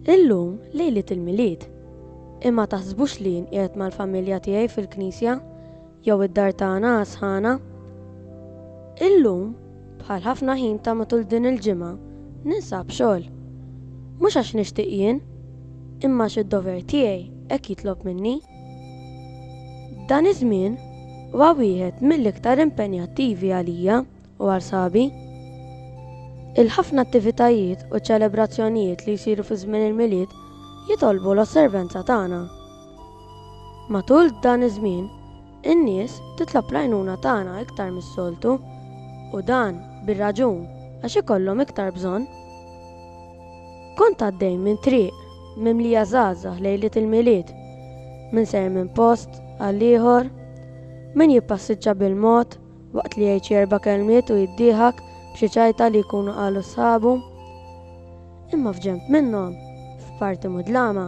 Illum lejliet il-Milied. Imma taħsbux li jien qiegħed mal-familja tiegħi fil-knisja jew id-dar tagħna għasħana. Illum, bħal ħafna ħin ta' matul din il-ġimgħa, ninsab xogħol. Mhux għax nixtieq jien, imma xi dover tiegħi hekk jitlob minni. Dan iż-żmien huwa wieħed mill-iktar impenjattivi għalija u għal sħabi. Il-ħafna attivitajiet u ċelebrazzjonijiet li jsiru fi żmien il-Milied jitolbu l-osservenza tagħna. Matul dan iż-żmien, in-nies titlob l-għajnuna tagħna iktar mis-soltu, u dan bir-raġun għax ikollhom iktar bżonn. Kont għaddej minn triq mimlija żgħażagħ lejliet il-Milied, min sejjer minn post għal ieħor, min jippassiġġa bil-mod waqt li jgħid xi erba' kelmiet u jiddieħak b'xi ċajta li jkunu qalu sħabu. Imma f'ġenb minnhom, f'parti mudlama,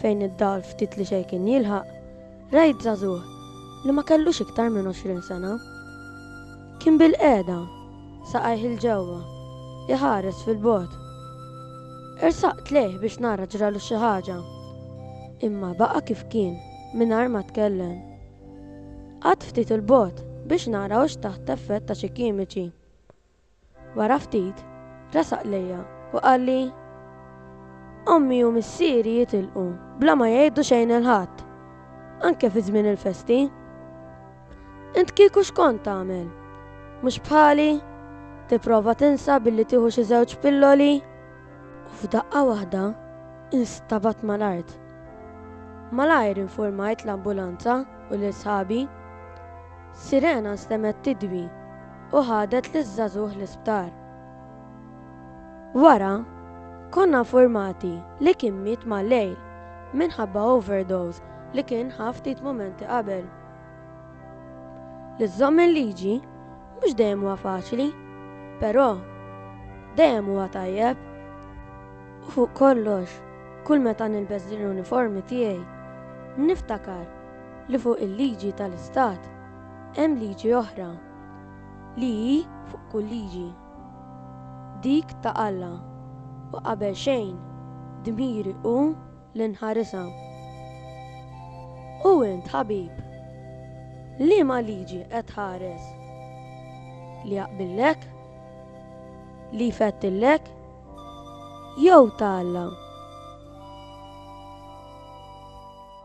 fejn id-dawl ftit li xejn kien jilħaq, Rajt żagħżugħ li ma kellux iktar minn għoxrin sena. Kien bilqiegħda, saqajh 'il ġewwa, iħares fil-bogħod. Ersaqt lejh biex nara ġralu xi ħaġa, imma baqa' kif kien mingħajr ma tkellem. Qgħadt ftit 'il bogħod biex nara hux taħt effett ta' xi kimiċi. Wara ftit, resaq lejja u qalli, Ommi u missieri jitilqu bla ma jgħidu xejn 'il Ħadd, anke fi żmien il-festi. Int kieku x'kont tagħmel? Mhux bħali? Tipprova tinsa billi tieħu xi żewġ pilloli? U f'daqqa waħda instabadt mal-art. Malajr infurmajt l-ambulanza u lil sħabi. Sirena stemgħet tidwi u ħadet liż-żagħżugħ l-isptar. Wara, konna nfurmati li kien miet mal-lejl minħabba overdose li kien ħa ftit mumenti qabel. Li żżomm il-liġi mhux dejjem huwa faċli, però dejjem huwa tajjeb. U fuq kollox, kull meta nilbes din l-uniformi tiegħi, niftakar li fuq il-liġi tal-Istat hemm liġi oħra, li hi fuq kull liġi, dik ta' Alla, u qabel xejn dmiri hu li nħarisha. U int, ħabib, liema liġi qed tħares? Li jaqbillek? Li jfettillek? Jew ta' Alla?